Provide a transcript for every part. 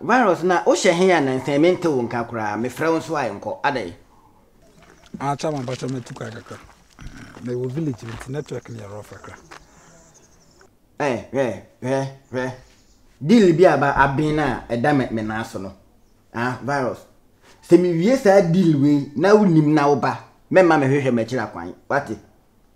Virus na wo hyɛ he a nansa yi me nte wo nka koraa me frɛ wo nso a nkɔ adɛn. Akyɛ ma bakyɛ ma tu kwan kakra me wɔ village bi nti network no yɛ rough kakra. Hwɛ hwɛ hwɛ hwɛ deal bi aba aben a ɛda me me nan so no ah virus sɛ me wie saa deal wei na wo nim na wo ba mɛma me hwehwɛ m'akyira kwan wate.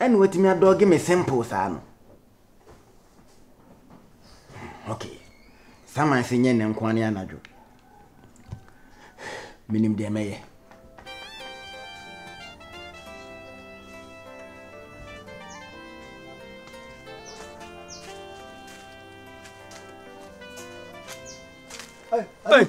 Ɛna watumi adɔge me simple saa no. Okay. Saman se nyɛ ne nkoa ne anadwo. Menim deɛ mɛyɛ. Hey.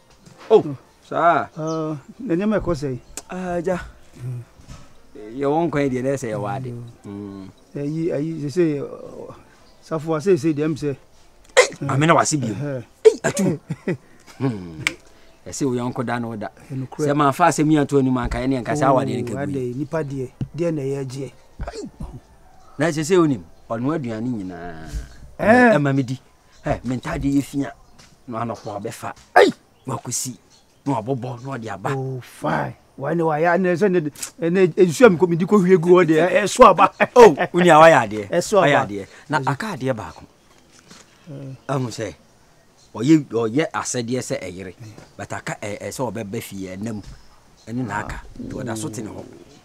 Oh, saa. Uh, na nneɛma ɛkɔ sɛ. Ah, agya. Yɛwɔ nkwan deɛ na ɛsɛ yɛwɔ ade. Mm. Ayi ayi sese safoa sese deɛ m sɛ. Maame na wase bio. Ei, atum. Hmm. ɛsɛ wo yɔnko da no da sɛ mafa asɛm yi ato anim anka ɛne ɛnka sɛ awadeɛ no kɛbui nipa deɛ deɛ na ɛyɛ agyeɛ na ɛsɛ sɛ wonim ɔno aduane nyinaa ɛma medi ɛ me ntaadeɛ yɛ fia na anɔpa ɔbɛfa ei na wakɔsi na wabobɔ na ɔde aba oh, wane wayɛ anɛ sɛ ɛnɛ nsuo a mekɔ medi kɔhwie gu hɔ deɛ ɛso aba oh, wonia wayɛ adeɛ wayɛ adeɛ na aka adeɛ baako hmm. ahu sɛ ɔyɛ ɔyɛ asɛdeɛ sɛ ɛyere but aka ɛɛ sɛ ɔbɛba fie ɛnam ɛne na aka nti ɔda so te ne hɔ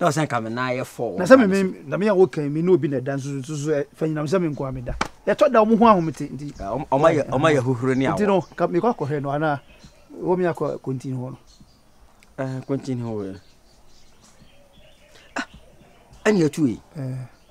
Na ɔsɛ nka me nan yɛ fɔ. Na sɛ me na me a wokan me ne obi na ɛda nso nso so fa nyinam sɛ me nko a meda. Yɛtɔ da wɔn ho ahomete nti. Ɔma yɛ ɔma yɛ hohoro ne awɔ. Nti no ka mekɔ akɔhwɛ no anaa wɔ me akɔ kontin hɔ no. Ɛɛ kontin hɔ wɔ. Ah ɛna tu yi. Ɛɛ.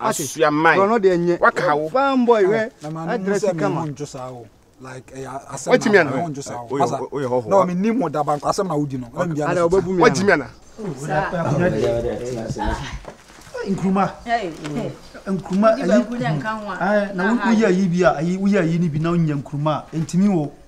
asua mae waka ha wo watimi ana woyɛ hɔho watimi ana nkuruma nkuruma ayi na woyɛ ayi bi a ayi woyɛ ayi ni bi na wonya nkuruma a ntumi wo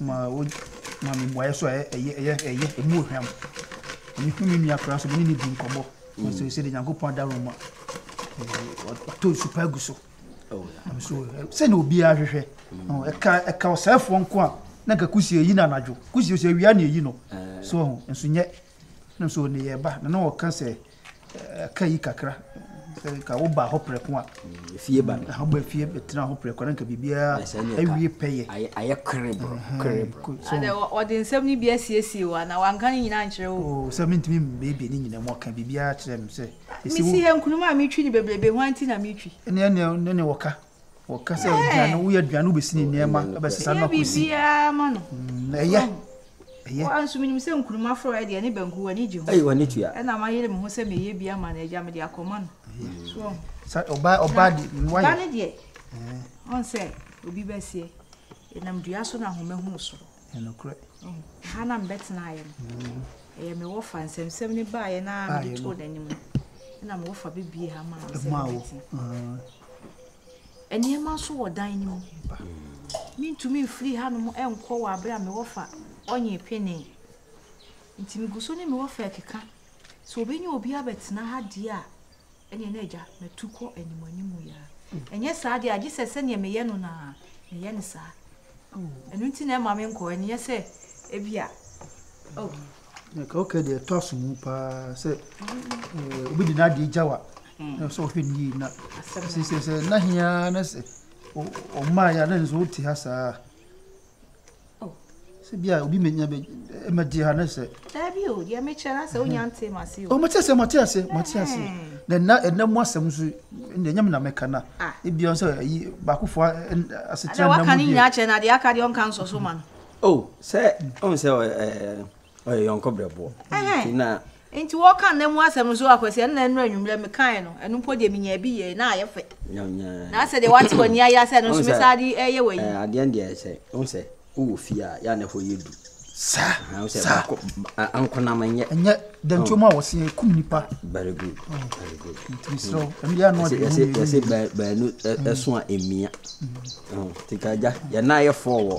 ma ɔma me mmuaeɛ so a ɛyɛ ɛyɛ ɛyɛ ɛmu ohwam. Mehu me nua koraa so me ne no di nkɔmmɔ. Mm. So sɛ de Nyankopɔn adarom a ɔtɔ nsu pa gu so. Oh, so sɛ na obiara hwehwɛ. Mm. Ɛka ɛka ɔsɛefoɔ nko a na nka kusie yi na anadwo. Kusie sɛ awia na eyi no. Eh. So ho nso nyɛ. Na so ne yɛ ba na na ɔka sɛ Ɛka yi kakra sɛ ka woba hɔ prɛko a. Fie ba no. Ɛho ba fie bɛtena hɔ prɛko na nka biribiara awie pɛyɛ. Ayɛ kerebo kerebo. Adɛ wɔde nsɛm no bi asiesie wo anaa wanka ne nyinaa nkyerɛ wo. Oo sɛ mentumi mmiebie ne nyinaa mu ɔka biribiara kyerɛ me sɛ. Mesi ha nkuruma a metwi ne bebrebe hwan nti na metwi. Ɛne ɛne ɛne wɔka. Wɔka sɛ aduane, woyɛ aduane wobɛsi ne nneɛma, ɛbɛsesa no akɔsi. Ɛyɛ biribiara ma no. Mm, ɛyɛ. Ɛyɛ. Wɔn nso menim sɛ nkuruma forɔ ɛdeɛ ne banku w'ani gye ho. Ɛyɛ w'ani tua. Ɛna mayere me ho sɛ meyɛ bi ama no agya mede akɔma no. So wɔn. Sa ɔbaa ɔbaa de wɔayɛ. Ba ne deɛ. Wɔn sɛ obi bɛseɛ. Ɛnam dua so na ahoma hunu soro. Yɛ nokorɛ. Ɛha na mebɛtenaeɛ no, ɛyɛ me wɔfa, nsɛmnsɛm no baeɛ no ara mede too n'anim, ɛnna me wɔfa bɛbuee ha maa me sɛ memmɛtena. Nneɛma nso wɔ dan no mu. Mentumi mfiri hanom nkɔ wɔ aberɛ a me wɔfa ɔnyee penee. Nti megu so ne me wɔfa rekeka sɛ ɔbɛnya obi abɛtena ha deɛ a, Ɛnneɛ na Agya, matu kɔ animuanimu yi ara. Ɛnyɛ saa deɛ a, gye sɛ sɛdeɛ meyɛ no no ara, meyɛ no saa. Ɛno nti na ɛmma menkɔ, ɛnyɛ sɛ ebia, oh. Nka wokɛ deɛ ɛtɔ aso mu paa sɛ obi de n'adeɛ gya wa na sɛ ɔhwɛ ne yie na sɛ sɛ sɛ na hia na sɛ ɔmaa yɛ a na nso wote ha saa. Oh. Sɛ bi a obi menya bɛ ɛmɛ di ha ne sɛ. Daabi o, deɛ me kyerɛ na sɛ wonya nte ma se o. O mo te ase, mo te ase, mo te ase. Na na ɛna mu asɛm nso na ɛnyɛ me na meka na. Ebi ɔn sɛ ayi baakofo asetena na mu deɛ. Ada waka ne nyinaa kyerɛ na deɛ aka deɛ ɔnka nsɔ so ma no. Oh, sɛ ɔn sɛ ɛɛ ɔyɛ yɔnko brɛboɔ nti na nti wɔka nna mu asɛm nso akwasi ɛnna ɛnura anwummerɛ mekae no ɛno mpo deɛ menya bi yɛ na ayɛ fɛ na sɛ deɛ wate w'ani ayɛ sɛ ɛno nso mesaa de ɛyɛ wɔ yi adeɛ deɛ sɛ wo sɛ wowɔ fie a yɛ a na ɛhɔ yɛ du saa saa ankonam nyɛ ɛnyɛ dantio mu a wɔsi ekum nipa very good very good ntirisirɛ ɛmi yɛ anɔ de ɛsɛ ɛsɛ baanu ɛso a emia tikagya yɛ nan yɛ fɔ wɔ.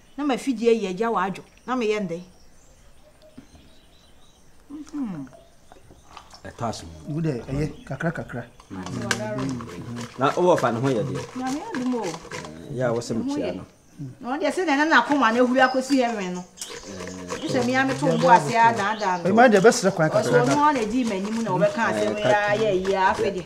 na m'afidie ayi agya wɔ adwo na meyɛ ndɛn? ɛtɔ aso wo dɛ ɛyɛ kakra kakra na wowɔ fa ne ho yɛ deɛ yɛ a wɔsɛ mekyia no na ɔdeɛ sɛ deɛ na nakoma no ahuri akɔsi heaven no sɛ mea meto bo ase a daadaa no ɛma deɛ bɛserɛ kwan kakra ɔsɛ ɔno a na ɛdii m'anim na wɔbɛka asɛm yɛ ayɛ yie afei deɛ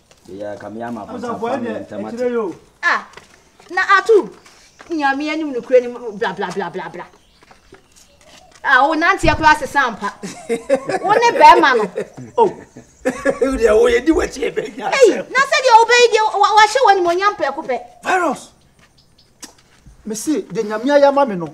Yeyɛ ka me ama abonsa fa me ntem ate. Ah na ato nyame anim no kura nim bla bla bla bla bla. Ah wo nanteɛ kura sesa ampa. Wo ne bɛrima no. Oh. Wo deɛ wo yɛ di wakyi ebe nya asɛm. Ei na sɛ deɛ wobɛyi deɛ wahyɛ wɔ animonyam prɛko pɛ. Virus. Mesi deɛ nyame ayɛ ama me no.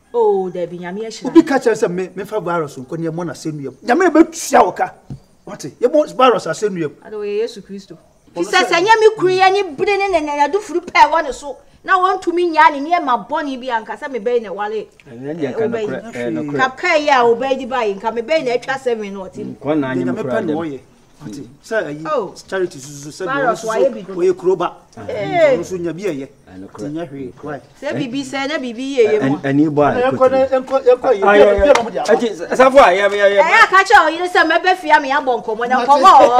Oh dabi nyame ahyira no. Obi ka kyerɛ sɛ me mefa virus nkɔ ne yɛmmɔ no asɛnnua mu. Nyame na bɛtua wo ka. Wate? Yɛmmɔ virus asɛnnua mu. Ade wɔyɛ Yesu Kristo. Fi sɛ sɛ ɛnyɛ me kunu yi ani bere ne ne nanadufuru pɛ ɛwɔ ne so na ɔntumi nnyaa ne nneɛma bɔne bi a nka sɛ me bɛyi na ɛwale ɔba yi. Nka kaa yi a ɔba yi de ba yi nka me bɛyi na atwa sɛ me na ɔte mu. Deɛ nyame pɛ na ɔyɛ. ɔte sɛ ayi oh. charity susu sɛ deɛ ɔno susu ɔyɛ kuro ba ɔno nso nya bi ɛyɛ te nyɛ hwee wai. sɛ biribi sɛ na biribi yie yɛ mu. ɛni bɔ a ɛkɔ tiri. ɛsafo a yɛ yɛ yɛ. ɛyɛ akakyɛ ɔyere sɛ mɛbɛ fia mi abɔ nkɔmɔ na nkɔmɔ ɔwɔ.